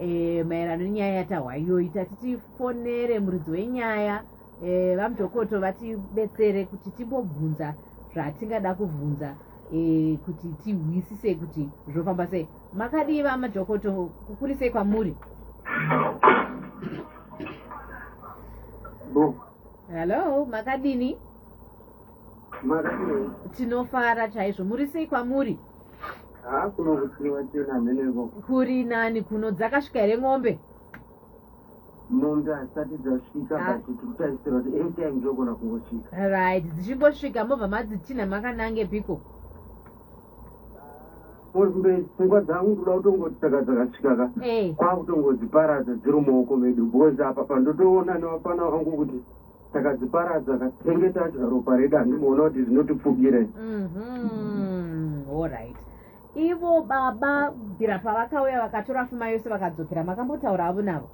eh, maerano nenyaya yatahwa iyoyi tati tifonere muridzi wenyaya eh, vamudhokoto vatibetsere kuti timbobvunza zvatingada kubvunza eh, kuti tihwisise kuti zvofamba sei makadii vamadhokoto kukurisei kwamuri hallo makadini Makafirei? Tinofara chaizvo. Muri sei kwamuri? Haa ah, kuno kusiwa chena mheneko. Kuri nani kuno dzakasvika here mombe? Mombe hasati dzasvika ah. but tikutarisira kuti anytime dzogona kungosvika. Right, dzichingosvika mobva madzitinha makanange piko? Mombe pfungwa dzangu kuda kutongoti saka dzakasvika ka. Eh. Kwakutongodziparadza dziri mumaoko medu because apa pandotoona nevafana vangu kuti takadziparadza katenge tadya ropa redu handimuona kuti zvinotipfukire mhm, allright ivo baba bvira pavakauya vakatora fuma yose vakadzokera makambotaura havo navo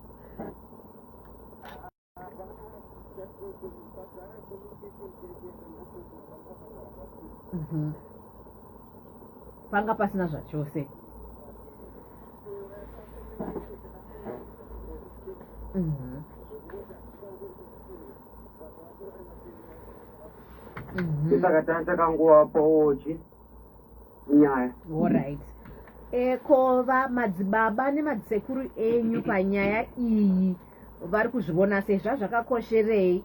mhm. panga pasina zvachose Mm-hmm. Mm-hmm. tisakatanga takanguva paochi nyaya orit eh, ko vamadzibaba nemadzisekuru enyu panyaya iyi vari kuzvivona sei zvazvakakosherei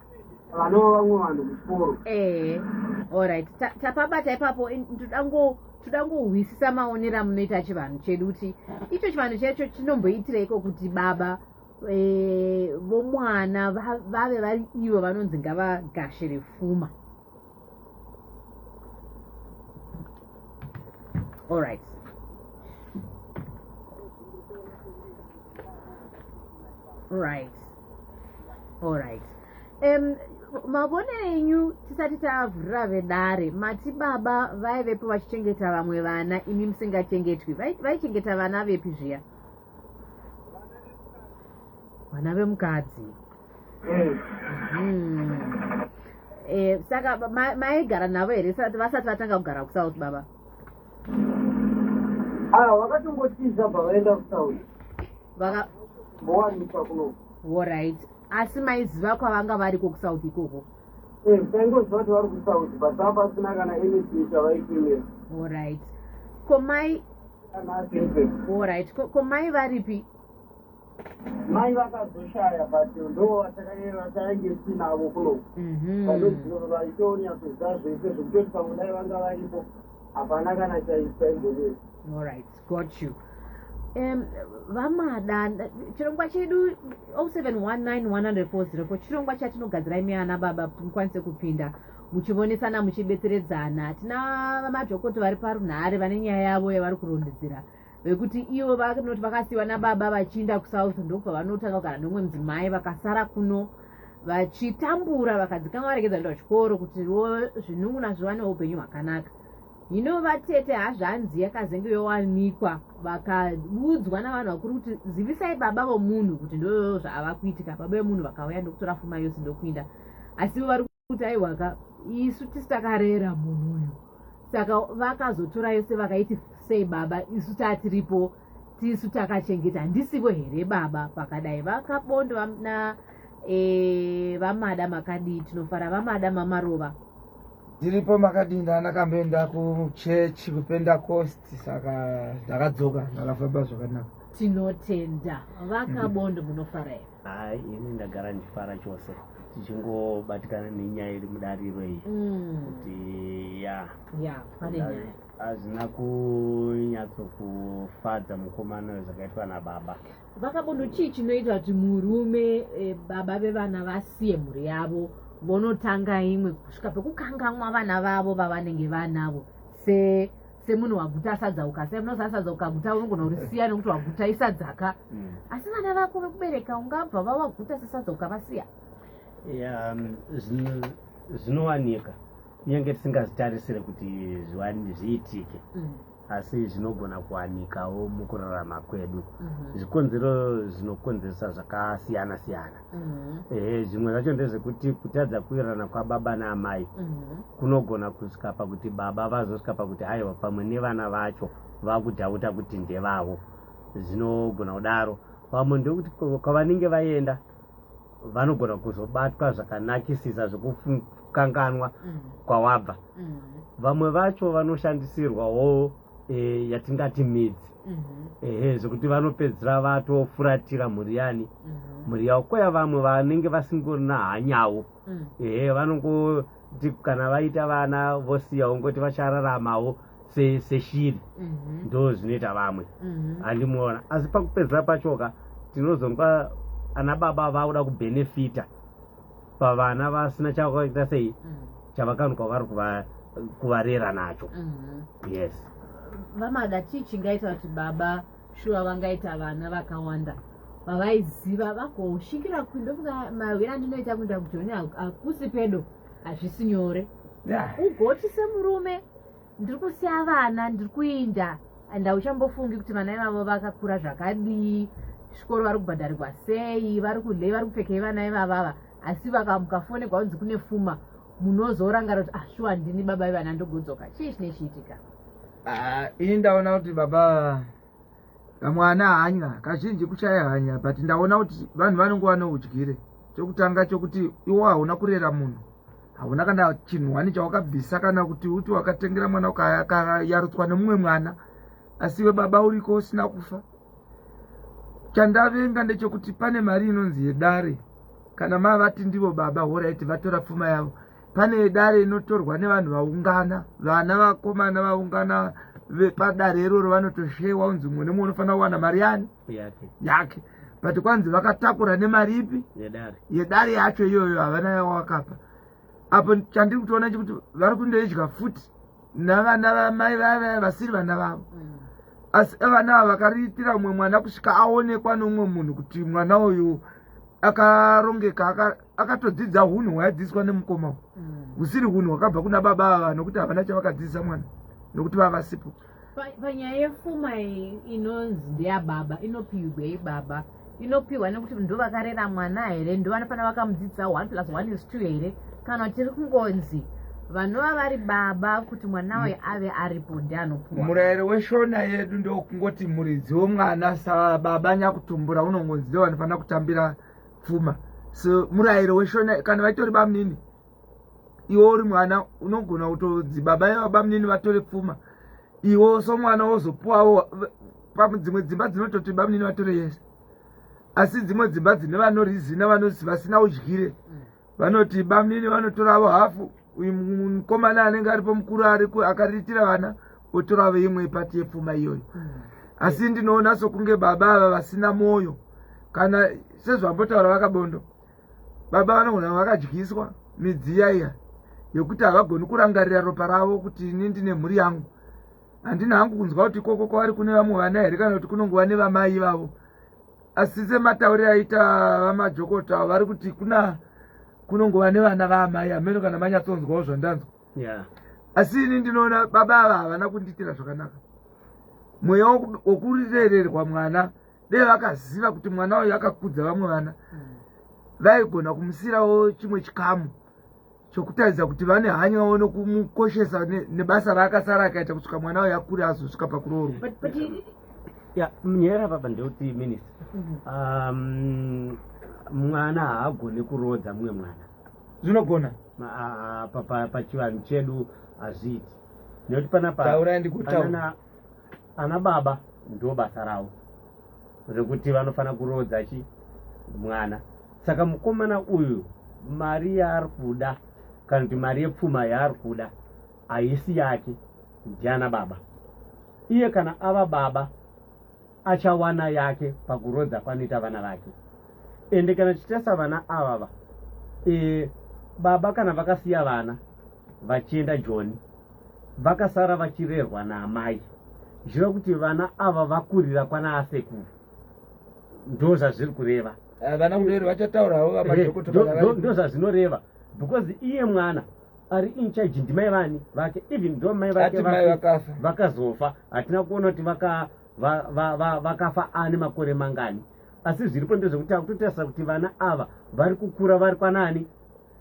vanova vamwe vanhu kuchikoro ehe allright tapabata ipapo toda ngohwisisa maonero amunoita chivanhu chedu kuti icho chivanhu chacho chinomboitireiko kuti baba e, vomwana vave vari ivo vanonzi ngavagashe refuma All right. All right. All right. Um, mavonero enyu tisati tavhurira vedare mati baba vaivepo vachichengeta vamwe vana imi musingachengetwi vaichengeta vana vepi zviya vana vemukadzi Eh, saka maigara navo here vasati vatanga kugara kusouth baba ah, vakatongotiza bva vaenda kusouth vakawanika kuno orit asi maiziva kwavanga variko kusouth ikoko eh, taingoziva kuti vari kusouth but va pasina kana anything chavaipimira orit komai orit komai varipi mai vakazoshaya but ndo vatakange tinavo kuno mhm. vaitonya kuziva zvese zvekutoti pamwe dai vanga varipo hapana kana chaisaigonyei allright got you um vamada chirongwa chedu 07191040 chirongwa chatinogadzirai miana baba mukwanise kupinda muchivonesana muchibetseredzana tina vamadhokoti vari parunhare vane nyaya yavo yavari kurondedzera vekuti ivo vanoti vakasiyiwa nababa vachiinda kusouth ndokwavanotanga kugara neumwe mudzimai vakasara kuno vachitambura vakadzikama varegedza kuenda kuchikoro kuti vo zvinunguna zvivane upenyu hwakanaka hino vatete hazvanzi yakazenge yowanikwa vakaudzwa navanhu vakuru kuti zivisai baba vomunhu kuti ndo zvaava kuitika baba vemunhu vakauya ndokutora fuma yose ndokuinda asi ivo vari kuti aiwaka isu tisi takarera munhu uyu saka vakazotora yose vakaiti sei baba isu tatiripo tisu takachengeta handisivo here baba pakadai vakabondo na e, vamada makadii tinofara vamada mamarova ndiripo makadii ndanakamboenda kuchurch kupenda cost saka ndakadzoka ndakafamba zvakanaka tinotenda vakabondo munofara here hai ini ndagara ndifara chose tichingobatikana nenyaya iri mudariro iyi mm. kuti ya ya pane nyaya hazvina kunyatsokufadza mukomana uyo zvakaitwa nababa vakabondo chii chinoita kuti murume e, baba vevana vasiye mhuri yavo vonotanga imwe kusvika pekukangamwa vana vavo vavanenge vanavo se semunhu waguta sadza ukasai munoziva sadza ukaguta unogona kurisiya nekuti waguta isadzaka mm. asi vana vako vekubereka ungabva vawaguta sesadza ukavasiya um, zvinowanika kunyange tisingazitarisire kuti zviitike mm. asi zvinogona kuwanikawo mukurarama kwedu mm-hmm. zvikonzero zvinokonzeresa zvakasiyana siyana Mhm. ehe zvimwe zvacho ndezvekuti kutadza kuwirirana kwababa naamai Mhm. kunogona kusvika pakuti baba vazosvika pakuti haiwa pamwe nevana vacho vakudhauta kuti ndevavo zvinogona kudaro pamwe ndokuti kwa- kwavanenge vaenda vanogona kuzobatwa zvakanakisisa zvekukanganwa Mhm. kwawabva Mhm. vamwe vacho vanoshandisirwawo e, yatingati midzi mm -hmm. ehe zvekuti vanopedzisira vatofuratira mhuri yani mm -hmm. mhuri yavo koya vamwe vanenge vasingorina hanyavo mm. ehe vanongoti kana vaita vana vosiya ungoti vachararamawo seshiri se mm -hmm. ndo zvinoita vamwe mm -hmm. andimuona asi pakupedzisira pachoka tinozonga ana baba vakuda kubenefita pavana vasina chavaita sei mm. chavakanukwa vari kuvarera nacho mm-hmm. yes vamada chii chingaita kuti baba shuwa vangaita vana vakawanda vavaiziva vakosvikira kundofunga mahwira andinoita kuenda kujoni hakusi pedo hazvisi nyore ugoti semurume ndiri kusiya vana ndiri kuinda and hauchambofungi kuti vana ivavo vakakura zvakadii zvikoro vari kubhadharirwa sei vari kudlei vari kupfekei vana ivavava asi vakamuka fone kwaunzi kune fuma munozorangara kuti ashuwa ah, ndini baba ivana ndogodzoka chii chine chiitika ah, ini ndaona kuti baba kamwana hanya kazhinji kushaya hanya but ndaona kuti vanhu vanenge vanoudyire chokutanga chokuti iwo hauna kurera munhu hauna kana chinhu wani chawakabvisa kana kuti uti wakatengera mwana ukayarutswa nemumwe mwana asi iwe baba uriko usina kufa chandavenga ndechokuti pane mari inonzi yedare kana mavati ndivo baba horaiti vatora pfuma yavo pane dare inotorwa nevanhu vaungana vana vakomana vaungana vepadare iroro vanotoshewa unzi mumwe nemumwe unofanira kuwana mari yani yake but kwanzi vakatakura nemari ipi yedare yacho iyoyo havana yawakapa apo chandiri kutoona chekuti vari kundoidya futi navana vamai vavaya vasiri vana vavo mm. asi vana ava vakariitira umwe mwana kusvika aonekwa neumwe munhu kuti mwana uyu akarongeka akatodzidza hunhu hwaadzidziswa nemukoma mm. husiri hunhu hwakabva kuna baba ava nokuti havana chavakadzidzisa mwana nokuti vavasipo panyaya yefuma inonzi ndeyababa inopihwa ibaba inopihwa nekuti ndo vakarera mwana here ndo vanofanira vakamudzidzisa one plus one is two here kana tiri kungonzi vanova vari baba kuti mwana waye mm. ave aripo ndianopuwa murayiro weshona yedu ndokungoti muridzi womwana sababa nyakutumbura unongonzi ndo vanofanira kutambira pfuma so murayiro weshona kana vaitori bamunini iwe uri mwana unogona kutonzi baba iva bamunini vatore pfuma iwe so mwana wozopuwawo padzimwe dzimba dzinototi bamunini vatore yese asi dzimwe dzimba dzine vanorizina vanozi vasina udyire mm. vanoti bamnini vanotoravo hafu uyu mukomana anenge aripo mukuru ariku akariitira vana otoravo imwe ipati yepfuma iyoyo mm. asi ndinoona sokunge baba ava vasina mwoyo kana sezvambotaura vakabondo baba vanogona vakadyiswa midziya iya yekuti havagoni kurangarira ropa ravo kuti ini ndine mhuri yangu handina hangu kunzwa kuti ikoko kwavari kune vamwe vana here kana kuti kunongova nevamai ivavo asi sematauriro aita vamajokota vari kuti kuna kunongova nevana vaamai hameno kana manyatsonzwawo zvandanzwa yeah. asi ini ndinoona baba ava havana kundiitira zvakanaka mweya wokurirererwa mwana dei vakaziva kuti mwana uyu akakudza vamwe vana mm. vaigona kumusiirawo chimwe chikamu chokutaridza kuti vane hanya wavo nokumukoshesa nebasa raakasara akaita kusvika mwana wayo akure azosvika pakuroorwa ya nyaya papa ndeuti minist mhm. um, mwana haagone kuroodza mumwe mwana zvinogona pachivanhu chedu hazviiti nekuti panapa ana baba ndo basa ravo rekuti vanofanira kuroodza chi mwana saka mukomana uyu mari yaari kuda kana kuti mari yepfuma yaari kuda haisi yake ndiana baba iye kana ava baba achawana yake pakurodza kwanoita vana vake ende kana tichitasa vana avava e, baba kana vakasiya vana vachienda joni vakasara vachirerwa naamai zviva kuti vana ava vakurira kwana asekuru ndo zvazviri kureva eh, vana mureri vachataura havo vamadhokotondo eh, zvazvinoreva because iye mwana ari incharge ndimai vani vake even tho mai vake vakazofa hatina kuona kuti vakafa ane makore mangani asi zviripo ndezvekuti akutotarisa kuti vana ava vari kukura vari kwanaani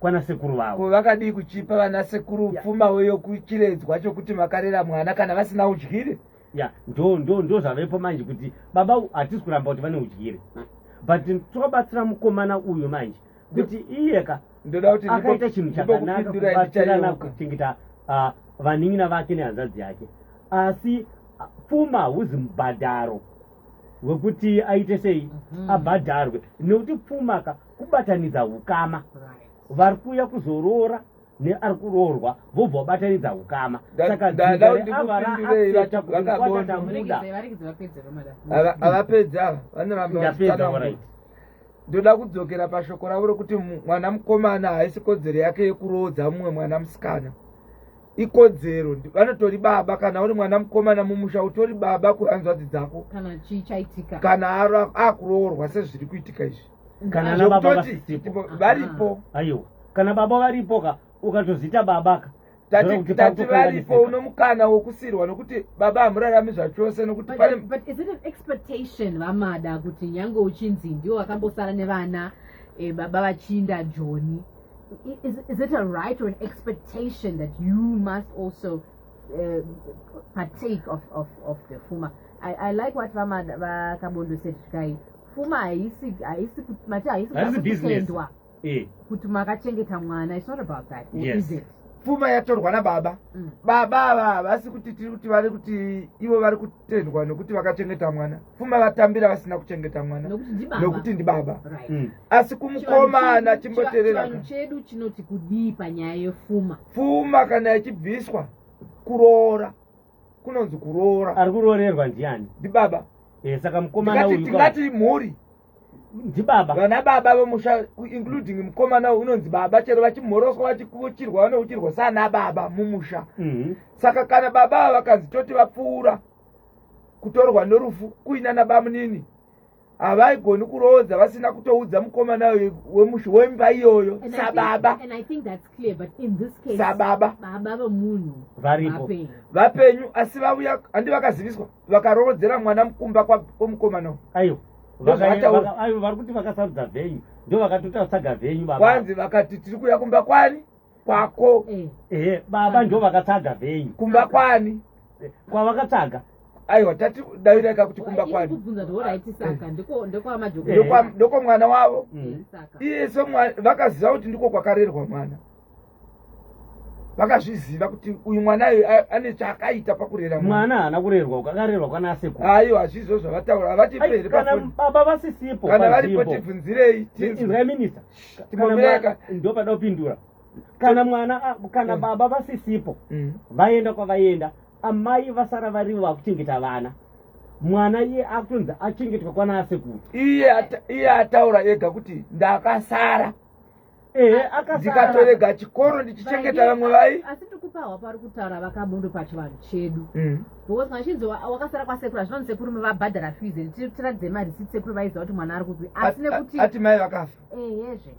kwana sekuru vavo ko vakadii kuchipa vana sekuru pfuma weyo kuchiredzwa chokuti makarera mwana kana vasina udyire ya ndo ndo ndo zvavepo manje kuti baba hatisi kuramba kuti vane udyire but tobatsira mukomana uyu manje kuti iye ka ndoda kuti akaita chinhu chakanaka kubatsirana kuchengeta ah, vanin'ina vake nehanzvadzi yake asi ah, pfuma huzi mubhadharo wekuti aite sei mhm. abhadharwe nekuti pfuma ka kubatanidza ukama vari kuuya kuzoroora neari kuroorwa vobva vabatanidza ukama sakavapedza ava vanorambaa ndoda kudzokera pashoko ravo rokuti mwana mukomana haisi kodzero yake yekuroodza mumwe mwana musikana ikodzero vanotori baba kana uri mwana mukomana mumusha utori baba kuhanzvadzi dzako kana akuroorwa sezviri kuitika izvi kana nababa vasipo varipo ah, aiwa kana baba varipo ka ukatozita baba ka tati varipo uno mukana wokusirwa nokuti baba hamurarami zvachose nokuti but is it an expectation vamada kuti nyange uchinzi ndiwo wakambosara nevana eh, baba vachinda joni is, is it a right or an expectation that you must also uh, partake of, of, of the fuma I, i like what vamada vakabondosetikai pfuma haisi haisi mati haisi kutendwa eh. kuti makachengeta mwana it's not about that yes. is it pfuma yatorwa nababa mm. baba ava havasi kuti tiri kuti vari kuti ivo vari kutendwa nokuti vakachengeta mwana pfuma vatambira vasina kuchengeta mwana nokuti ndibaba right. mm. asi kumukomana chimboterera chedu chinoti kudii panyaya yepfuma pfuma kana ichibviswa kuroora kunonzi kuroora ari kuroorerwa ndiani ndibaba e, saka mukomana uyu tingati mhuri ndibaba vana baba vemusha including mukomana uyu unonzi baba chero vachimhoroswa vachikuchirwa vanouchirwa sana baba mumusha mm -hmm. saka kana baba ava vakanzi toti vapfuura kutorwa norufu kuinana bamunini havaigoni kuroodza vasina kutoudza mukomana wemushu wemba iyoyo sababa sababa vapenyu asi vauya handi vakaziviswa vakaroodzera mwana mukumba kwomukomana ayo vari kuti vakasarudza venyu ndo vakatotasaga venyu kwanzi vakati tiri kuya kumba kwani kwako eh. ehe baba ndo vakatsvaga venyu kumba kwani eh, kwavakatsvaga aiwa tati daviraka kuti kumba kwani ndokwa mwana wavo mm. iye so vakaziva kuti ndiko kwakarerwa mwana vakazviziva kuti uyu mwana uyu ane chaakaita pakurera mwana haana kurerwa ukakarerwa kwana asekuru aiwa hazvizvo zvavataura havati peri baba vasisipo kana varipo tibvunzirei tinzwa minister ndopada kupindura kana mwana kana mm. baba vasisipo mm. vaenda kwavaenda amai vasara varivo vakuchengeta vana mwana iye akutonzi achengetwa kwana asekuru iye ataura ega kuti ndakasara ehe ndikatorega chikoro ndichichengeta vamwe vai asi tikupahwa pari kutaura vakamondo pachivanhu chedu mm. because vachinzi wakasara kwasekuru hazvinonzi sekuru mevabhadhara fees and tiratidze marisiti sekuru vaiziva kuti mwana ari kupi asi nekuti ati mai vakafa eyezve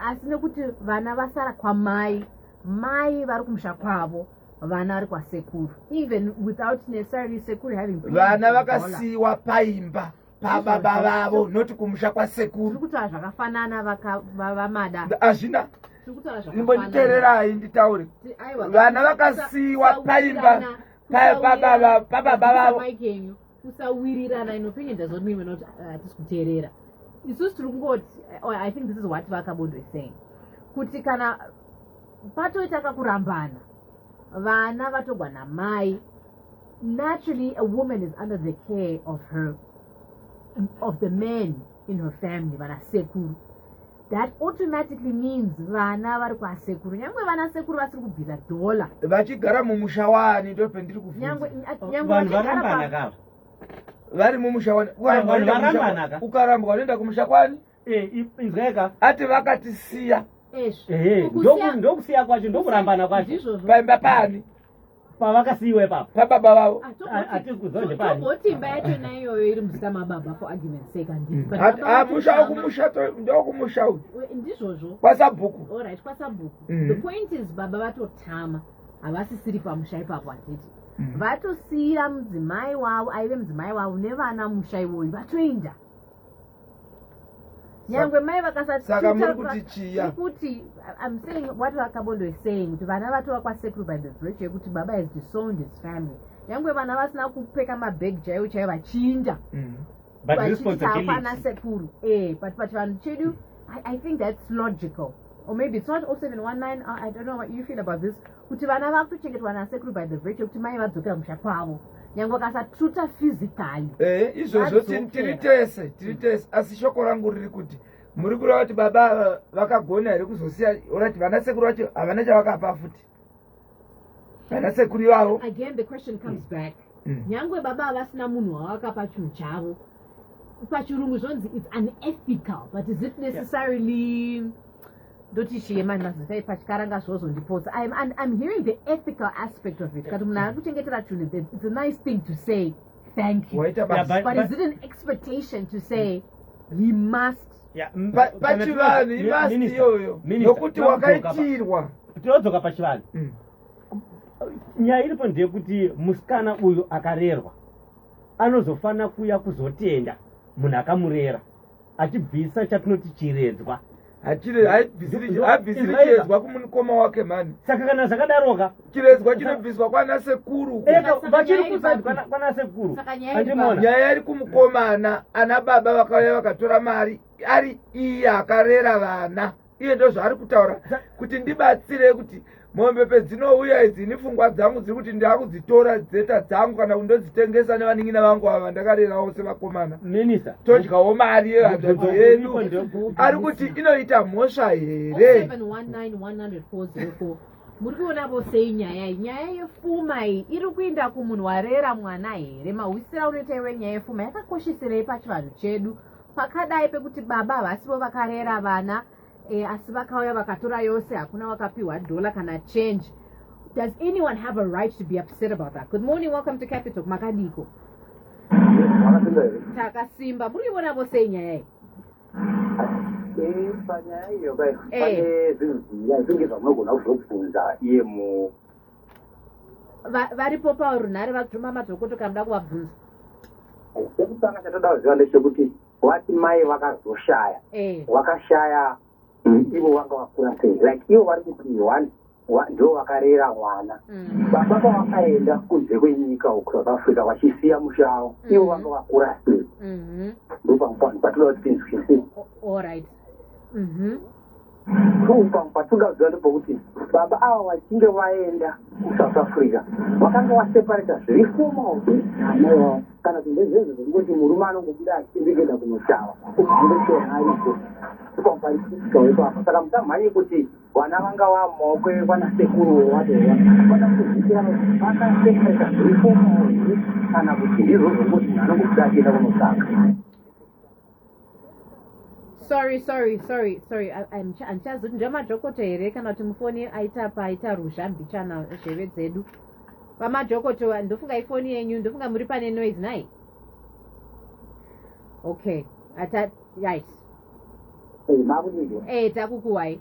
asi nekuti vana vasara kwamai mai vari kumusha kwavo vana vari kwasekuru even without necessarily sekuru having vana vakasiyiwa paimba pababa vavo noti kumusha kwasekuru tiri kutaura zvakafanana vamada hazvina imbonditererai nditaure vana vakasiyiwa paimba pababa vavo kusawirirana inopenya ndazoti mimwe noti uh, hatisi kuteerera isusu tiri kungoti oh, i think this is what vakabondo is saying kuti kana patoita kakurambana vana vatogwa namai naturally a woman is under the care of her of the man in her family vana sekuru that automatically means vana vari kwasekuru nyangwe vana sekuru vasiri kubvisa dhola vachigara mumusha wani ndopendiri kufunzanyangwevarambanakaa vari mumusha wani ukarambwa unoenda kumusha kwani eh, inzweka ati vakatisiya ndokusiya kwacho ndokurambana kwacho paimba pani pavakasiiwa ipapo pababa vavo atikuzoje paoti imba yacho na iyoyo iri muzita mababa for argument sake andimusha mm. kumusha ndokumusha uyu ndizvozvo kwasabhuku allright kwasabhuku mm. the point is baba vatotama havasisiri pamusha ipapo handiti mm. vatosiira mudzimai wavo aive mudzimai wavo nevana musha ivoyu vatoenda nyangwe mai vakasasaka muri kuti chiya kuti i'm saying what vakabondo is saying kuti vana vatova kwasekuru by the virtue yekuti baba has disowned his family nyangwe vana vasina kupfeka mabhegi chaiwo chaiwo vachinja mm. vachitapana sekuru e but pachivanhu chedu i think that's logical or maybe it's not 0719 i don't know what you feel about this kuti vana vakutochengetwa nasekuru by the virtue kuti mai vadzokera musha kwavo nyange vakasatruta physically eh, izvozvo tiri tese tiri tese asi shoko rangu riri kuti muri kureva kuti baba vakagona here kuzosiya orati vana sekuru vacho havana chavakapa futi vana sekuru ivavo again the question comes mm. back mm. nyange baba havasina munhu wavakapa chinhu chavo pachirungu zvonzi its unethical but is it necessarily yeah. ndoti chiye mani mazita epachkaranga zvozondipotsa im and im hearing the ethical aspect of it kati munhu akuchengetera chunhu then it's a nice thing to say thank you yeah, but, but, but is it an expectation to say he must pachivanhu he must iyoyo nokuti wakaitirwa tinodzoka pachivanhu mm. nyaya iripo ndeyekuti musikana uyu akarerwa anozofanira kuuya kuzotenda munhu akamurera achibvisa chatinoti chiredzwa haibvisirichiredzwa kumukoma wake mani saka kana zvakadaroka chiredzwa chinobviswa kwana sekuru vachiri kusaidi kwana sekuru nyaya iri kumukomana ana baba vakauya vakatora mari ari iye akarera vana iye ndozvaari kutaura kuti ndibatsire kuti mombe pedzinouya idzi ini fungwa dzangu dziri kuti ndakudzitora dzeta dzangu kana kuti ndodzitengesa nevanin'ina vangu ava vandakarerawo sevakomana minista todyawo mari yevanzvadzi yedu ari kuti inoita mhosva here muri kuona vosei nyaya iyi nyaya yefuma iyi iri kuenda kumunhu warera mwana here mahwisira unoita iwe nyaya yefuma yakakosheserei pachivanhu chedu pakadai pekuti baba havasivo vakarera vana e, asi vakauya vakatora yose hakuna wakapiwa dhola kana change does anyone have a right to be upset about that good morning welcome to capital makadiko takasimba muri ivona vose inyaya iyi panyaya iyo kai eh. pane zvinhu zvinge zvamwe gona kuzobvunza iye mu varipo parunhare vatuma madhokota kana da kuvabvunza chekutanga chatoda kuziva ndechekuti wati mai vakazoshaya eh. wakashaya mm, ivo vanga vakura sei like ivo vari kuti one ndo vakarera mwana mm. baba pavakaenda kunze kwenyika uku south africa vachisiya musha avo mm. ivo vanga vakura sei mm-hmm. ndopamupano patoda kuti tinzwisise true pamwe patingaziva ndepekuti baba ava vachinge vaenda kusouth africa vakanga vaseparata zviri fomal kana kuti ndezvezvo zvekungoti murume anongobuda achiendekenda kunoshava uzivechoaiko pamwe paisikawepapo saka musamhanye kuti vana vanga vamaoko ekwana sekuru wewadoa vada kuzvikira vakaseparata zviri fomal kana kuti ndizvo zvekungoti anongobuda achienda kunoshava sorry sorry sorry sorry handichazi kuti ndemadhokoto here kana kuti mufoni aita paita ruzha mbichana zheve dzedu vamadhokoto ndofunga ifoni yenyu ndofunga muri pane noise nai okay ata right eh, eh takukuwai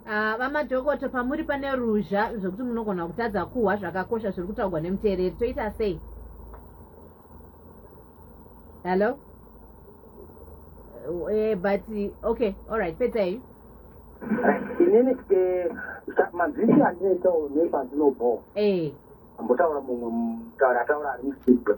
Ah, vamadhokoto uh, pamuri pane ruzha zvekuti munogona kutadza kuhwa zvakakosha zviri kutaugwa nemuteereri toita sei hello uh, eh, but okay allright pedzai inini eh, mazvisi andinoitawo nepandinobhowa eh. ambotaura mumwe mutaura ataura ari musibwe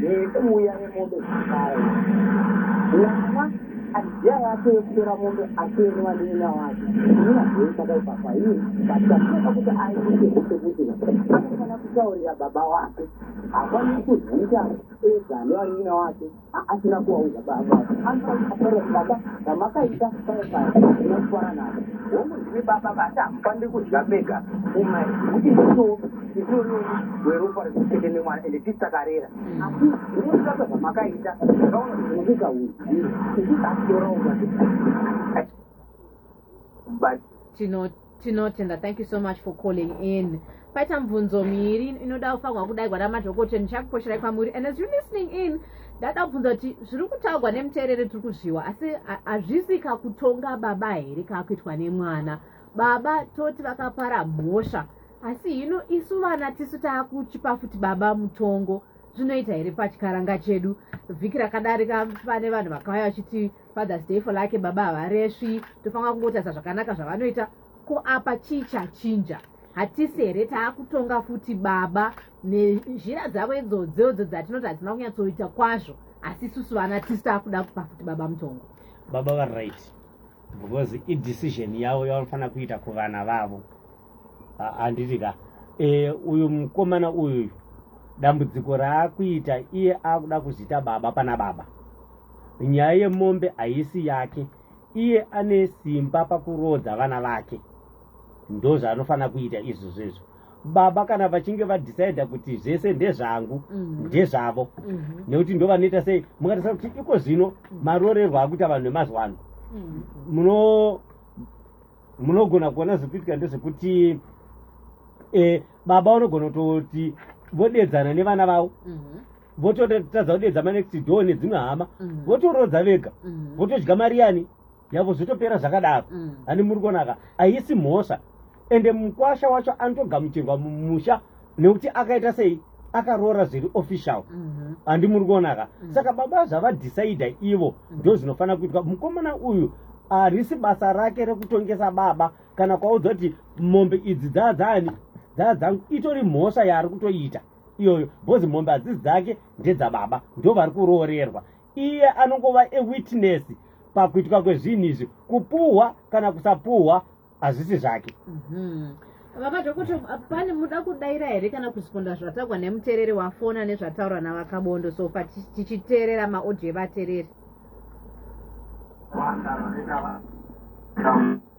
nekuuya nemombe dzakare mwana aziya yake yekutora mombe asiene vanenina wake inina zvei chakaipafa iye batiakuoka kuti aite kusekutira anofanira kutaurira baba wake hafaniri kuzviita ega ane vanenina wake asina kuvaudza baba anofanira baba vamakaita saifaa asina kufara navo hongu ndimi baba vati hamufaniri kudya mega umai kuti nditoo Ndinonoka weropa rekuchete nemwana ende tisi takarera. Ndinonoka zvamakaita zvakaona zvinokuka uyu. Ndinonokaorawo but tinotenda thank you so much for calling in paita mubvunzo miiri inoda kufanirwa kudaigwa namadhokoteya ndichakuposherai kwamuri and as you listening in ndada kubvunza kuti zviri kutaurwa nemuteereri tiri kuzviwa asi hazvisi kakutonga baba here kakuitwa nemwana baba toti vakapara mhosva asi hino isu vana tisu taakuchipa futi baba mutongo zvinoita here pachikaranga chedu vhiki rakadarika pane vanhu vakauya vachiti fathers day fo lake baba havaresvi tofanira kungotarisa zvakanaka zvavanoita ko apa chii chachinja hatisi here taakutonga futi baba nezhira dzavo idzodzodzo dzatinoti hadzina kunyatsoita kwazvo asi isusu vana tisu taakuda kupa futi baba mutongo baba varight because idecision yavo yavanofanira kuita kuvana vavo handiti ka e, uyu mukomana uyuyu dambudziko raakuita iye akuda kuzviita baba pana baba nyaya yemombe haisi yake iye ane simba pakuroodza vana vake ndozvaanofanira kuita izvozvo izvo baba kana vachinge vadecider kuti zvese ndezvangu mhm. ndezvavo mhm. nekuti ndo vanoita sei mukatarisa kuti iko zvino mhm. marorerwo akuita vanhu vemazuva ano munogona kuona zvekuitika ndezvekuti e, baba vanogona kutoti vodedzana nevana vavo vototadza kudedza manext door nedzimwe hama votoroodza vega votodya mari yani yavo zvotopera zvakadaro mm. ani muri kuonaka haisi mhosva ende mukwasha wacho anotogamuchirwa mumusha nekuti akaita sei akaroora zviri official mhm. handi muri kuonaka mm. saka baba zvavadhicida ivo mm. ndo zvinofanira kuitwa mukomana uyu harisi basa rake rekutongesa baba kana kwaudza kuti mombe idzi dzaa dzaani dzaa dzangu itori mhosva yaari kutoita iyoyo bhozi mombe hadzisi dzake ndedzababa ndo vari kuroorerwa iye anongova a witness pakuitwa kwezvinhu izvi kupuhwa kana kusapuhwa hazvisi zvake mhm. vava zvekuti pane muda kudaira here kana kusiponda zvatagwa nemuteereri wafona nezvataurwa navakabondo so fa tichiteerera maodio evateereri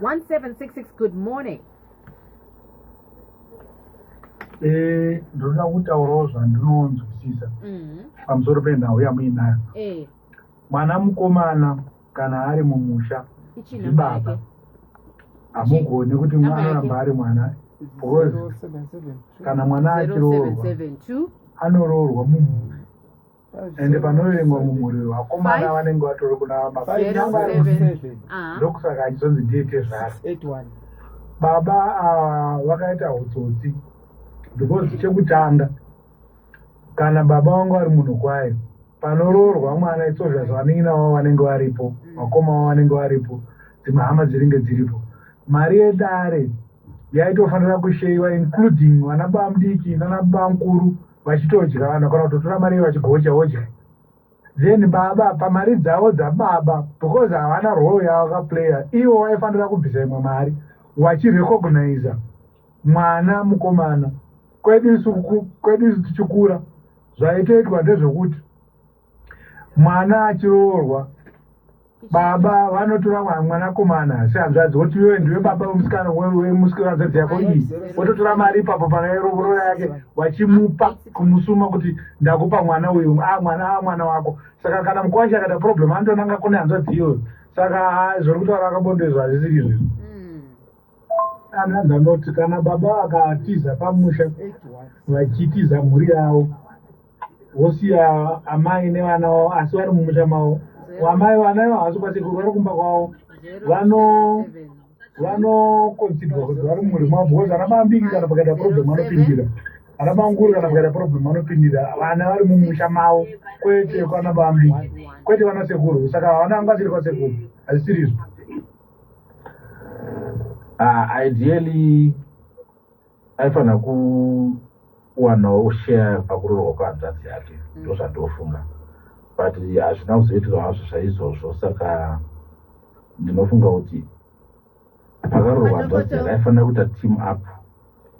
1766 good morning eh, ndinoda kutaurawo zvandinonzwisisa mhm. pamusoro penhau yamuinayo eh. mwana mukomana kana ari mumusha ndibaba hamugoni kuti mwanoramba ari mwana because kana mwana achiroorwa anoroorwa mumusha ende panoverengwa mumhuri wevakomana vanenge vatori kuna baba ah. ndokusaka achizonzi ndiye tezvara baba ah, vakaita utsotsi because chekutanga kana baba vangu vari munhu kwayo panoroorwa mwana itsozva zvavaningina vavo vanenge varipo mm. vakoma vavo vanenge varipo dzimwe hama dziringe dziripo mari yedare yaitofanira kusheiwa including vana bamudiki nana bamukuru vachitodya vanhu kana kutotora mari vachigocha wocha then baba pamari dzavo dzababa because havana role yavo kaplayer ivo vaifanira kubvisa imwe mari vachirecogniza mwana mukomana kwedu isu kwedu isu tichikura zvaitoitwa ndezvekuti mwana achiroorwa baba vanotora mwa- mwanakomana sehanzvadzi woti iwe ndiwe baba wemusikana wemusikanahanzvadzi yako iyi wototora mari ipapo pakaerovorora yake vachimupa kumusuma kuti ndakupa mwana uyu a mwana a mwana wako saka kana mukwasha akaita problem anotonanga kune hanzvadzi iyoyo saka ah, zviri kutaura akabonde izvo hazvisiri izvizvo Mm. ana ndanoti kana baba vakatiza pamusha vachitiza mhuri yavo wosiya amai nevana wavo asi vari mumusha mavo amai vana ivo havasi kwasekuru vari kumba kwavo vano vanokonsidwa kuti vari mumhuri mavo because ana mambiki kana pakaita problem anopindira ana manguru kana pakaita problem anopindira vana vari mumusha mavo kwete kwana mambiki kwete vana sekuru saka havana vanga vasiri kwasekuru hazisirizvo uh, ah, ideally aifanira kuwanawo share pakuroorwa kwehanzvadzi yake mm. ndozvandofunga mm. but hazvina kuzoitirwa hazvo zvaizvozvo saka ndinofunga kuti pakaroorwa hanzvadzi yake aifanira kuita team up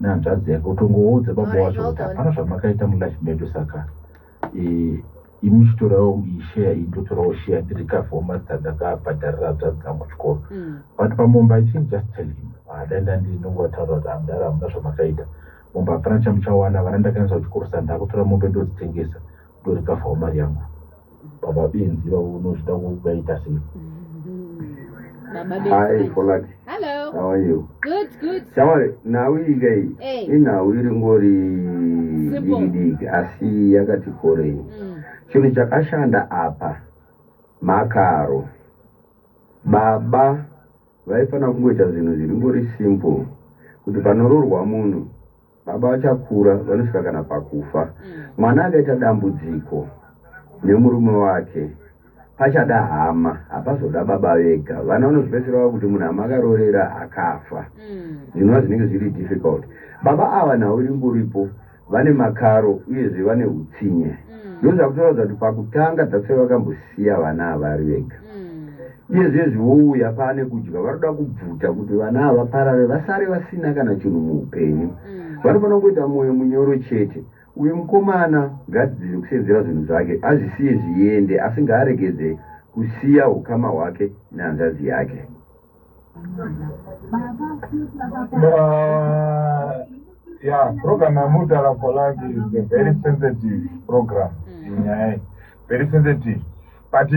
nehanzvadzi yake utongoudze baba wacho kuti hapana zvamakaita mulife medu saka eh, imi chitorawo isheya iyi ndotorawo sheya ndiri kafomasi tandakabhadharira hanzvadzi dzangu chikoro mm. but pamomba i think just tell him adanda ah, ndinongataura kuti amdara hamuna zvamakaita momba hapana chamuchawana vana ndakaendesa kuchikoro sa ndakutora mombe ndodzitengesa ndori kafawo mari yangu baba benzi vavo unozvida kubaita sei mm-hmm. Hello. How are you? Good, good. Shamwari, nhau iyi kai Hey. inhau iri ngori Simple. dikidiki asi yakati korei. Mm. Chinhu chakashanda apa makaro. Baba vaifanira kungoita zvinhu zviri ngori simple kuti panororwa munhu baba vachakura vanosvika kana pakufa mm. mwana akaita dambudziko nemurume wake pachada hama hapazoda baba vega vana vanozopedzisira vava kuti munhu hama akarorera akafa mm. zvinova zvinenge zviri difficult baba ava nhau iri nguripo vane makaro uyezve vane utsinye mm. ndozvakutoratidza kuti pakutanga dzasai vakambosiya vana avari vega Iye zviye zvivouya paane kudya vanoda kubvuta kuti vana ava parare vasare vasina kana chinhu muupenyu. Mm. Vanofanira kungoita mwoyo munyoro chete. Uyu mukomana ngaadzidze kusenzera zvinhu zvake azvisiye zviende asi ngaaregedze kusiya hukama hwake nehanzvadzi yake. Uh, yeah, program yamudala for life is a very sensitive program. Mm. Yeah, very sensitive. but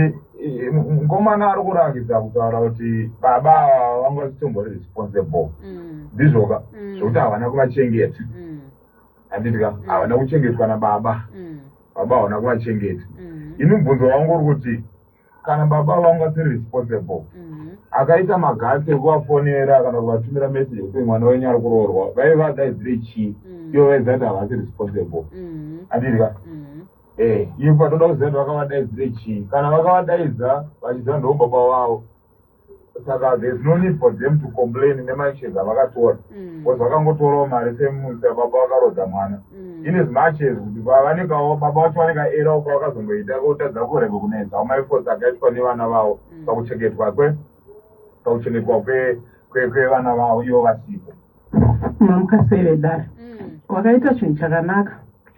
mukomana ari kurakidza kutaura kuti baba ava vanga vachitombori responsible mm. ndizvoka mm. zvokuti havana kuvachengeta mm. handidika havana kuchengetwa nababa baba havana kuvachengeta ini mubvunzo wangu uri kuti kana baba vangu vasiri responsible akaita magasi ekuvafonera kana kuvatumira message yekuti mwana wenyu ari kuroorwa vaiva daidzire chii ivo vaiziva kuti havasi responsible handidika Eh, ivo patoda kuziva kuti vakavadaidzire chii kana vakavadaidza vachiziva ndoo baba vavo saka there's no need for them to complain nemacheza avakatora Mm. bcause vakangotorawo mari semusa baba vakarodza mwana Mm. in as much as kuti va- vanenge avo- baba vacho vanenge aerawo kwavakazongoita kotadza kurega kunetsa amaefforts akaitwa nevana vavo Mm. pakuchengetwa kwe pakuchengetwa kwe- kwe- kwevana vavo ivo vasipo mamukasei mm. vedare mm. wakaita chinhu chakanaka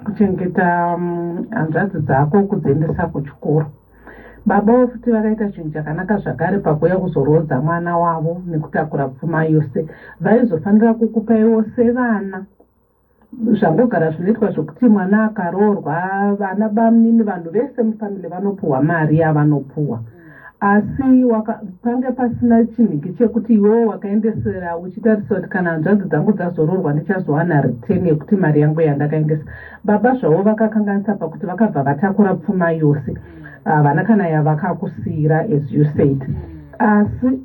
kuchengeta mm, hanzvadzi um, dzako kudziendesa kuchikoro babawo futi vakaita chinhu chakanaka zvakare pakuuya kuzoroodza mwana wavo nekutakura pfuma yose vaizofanira kukupaiwo sevana zvambogara zvinoitwa zvokuti mwana akaroorwa vana bamnini vanhu vese mufamily vanopuhwa mari yavanopuhwa asi pange pasina chinhingi chekuti iwewo wakaendesera uchitarisa kuti kana hanzvadzi dzangu dzazoroorwa ndichazowana return yekuti mari yangu yandakaendesa baba zvavo vakakanganisa pakuti vakabva vatakura pfuma yose ah, havana kana yavakakusiyira as you said asi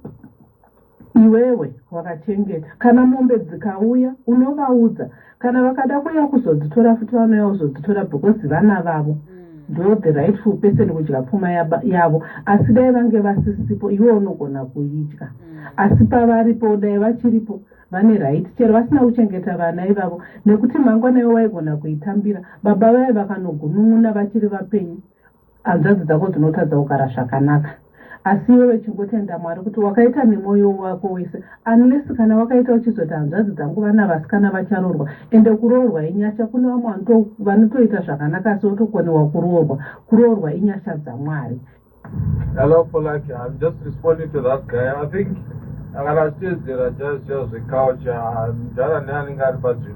Iwewe wakachengeta. Kana mombe dzikauya unovaudza. Kana vakada kuuya kuzodzitora futi vanouya kuzodzitora because vana vavo. Mm ndo the rightful person kudya pfuma yavo asi dai vange vasisipo iwe unogona kuidya mm. asi pavaripo dai vachiripo vane right chero vasina kuchengeta vana ivavo nekuti mangwana ivo vaigona kuitambira baba vaye vakanogunun'una vachiri vapenyu hanzvadzi dzako dzinotadza kugara zvakanaka asi iwewe chingotenda mwari kuti wakaita nemwoyo wako wese unless kana wakaita uchizoti hanzvadzi dzangu vana vasikana vacharoorwa ende kuroorwa inyasha kune vamwe vanotoita zvakanaka asi votokonewa kuroorwa kuroorwa inyasha dzamwari Hello, Polaki. I'm just responding to that guy. I think akana achiteedzera jazz jazz zvekaucha mdhara neanenge ari padzvino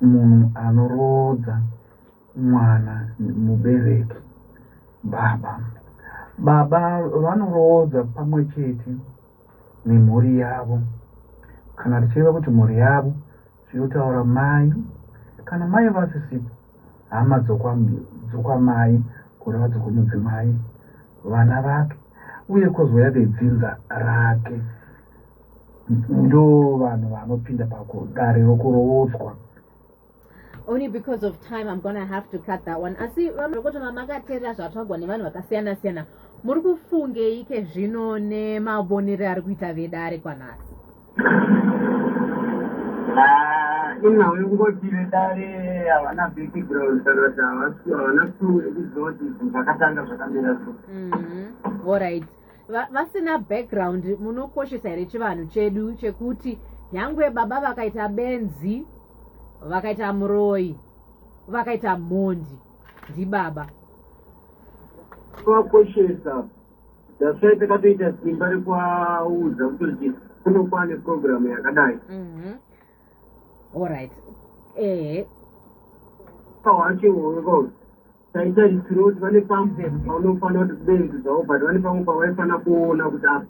munhu anoroodza mwana mubereki baba baba vanoroodza pamwe chete nemhuri yavo kana tichireva kuti mhuri yavo zvinotaura mai kana mai vasisipo hama dzokwamai kureva dzokwumudzimai vana vake uye kozouya vedzinza rake ndo vanhu vanopinda pakudare rokuroodzwa only because of time i'm gonna have to cut that one asi vamrokoto vamakateerera zvatwagwa nevanhu vakasiyana siyana muri kufungeike zvino nemavonero ari kuita vedare kwanhasi ah, inhau yokungoti vedare havana background kana kuti havana clue yekuziva kuti zvakatanga zvakamira so mm-hmm. all right vasina background munokoshesa here chivanhu chedu chekuti nyangwe baba vakaita benzi vakaita muroyi vakaita mhondi ndibaba vakoshesa dasvai takatoita simba rekuaudza kutoti kunokuva neprogramu yakadai mhm. allright ehe pawachiwongo taitarisira kuti vane pamwe paunofanira kuti benzi zvavo but vane pamwe pavaifanira kuona kuti apa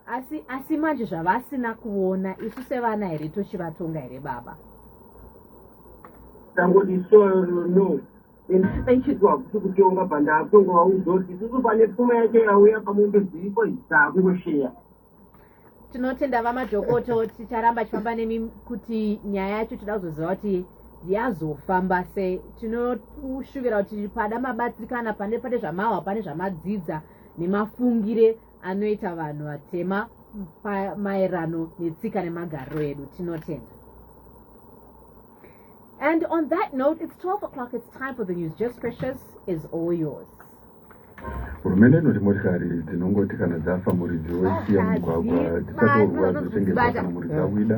asi asi manje zvavasina kuona isu sevana here tochivatonga here baba tangoti soro no aichizwa hakusi kutonga bhandaatonga wauzoti isusu pane pfuma yake yauya pamwe mbeziriko hisa akungosheya tinotenda vamadhokoto ticharamba tichifamba nemi kuti nyaya yacho tida kuzoziva kuti yazofamba sei tinoshuvira kuti pada mabatsirikana pane pane zvamahwa pane zvamadzidza nemafungire anoita vanhu vatema maerano netsika nemagariro edu tinotenda and on that note it's 12 o'clock it's time for the news just precious is all yours hurumende inoti motikari dzinongoti kana dzafa muridzi woisiya mugwagwa dzichatorwa dzotengeswa kana muridzi awida